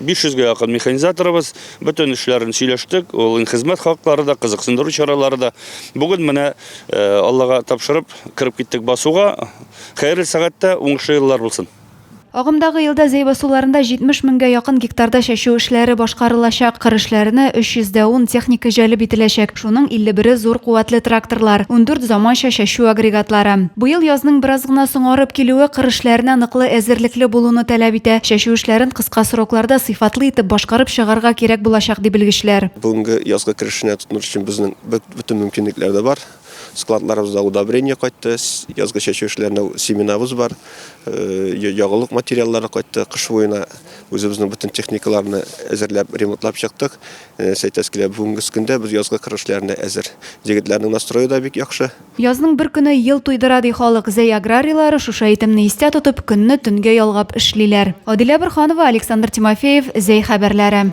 500 гә якын механизаторыбыз, бөтен эшләрен сөйләштек, ул хезмәт хаклары да, кызыксындыру чаралары да. Бүген менә Аллага тапшырып, кереп киттек басуга. Хәерле сәгатьтә, уңышлы еллар булсын! Агымдагы елда Зәй басуларында 70 меңгә якын гектарда чәчү эшләре башкарылачак. Кыр эшләренә 310 техника җәлеп ителәчәк. Шуның 51-е зур куәтле тракторлар, ундүрт заманча чәчү агрегатлары. Быел язның бераз гына соңарып килүе кыр эшләренә ныклы әзерлекле булуны таләп итә, чәчү эшләрен кыска срокларда сыйфатлы итеп башкарып чыгарга кирәк булачак, ди белгечләр. Бүгенге язгы кыр эшенә тотыныр өчен безнең бөтен мөмкинлекләр дә бар. Складларыбызда удобрение кайтты, язгы чәчү эшләренә семенабыз бар, ягулык материаллары кайтты. Кыш буена үзебезнең бөтен техникаларны әзерләп, ремонтлап чыктык. Нәрсә әйтәсе килә, бүгенгес көндә без язгы кыр эшләренә әзер. Җегетләрнең настрое да бик яхшы. Язның бер көне ел туйдыра, ди халык. Зәй аграрийлары, шушы әйтемне истә тотып, көнне төнгә ялгап эшлиләр. Адилә Борһанова, Александр Тимофеев, Зәй хәбәрләре.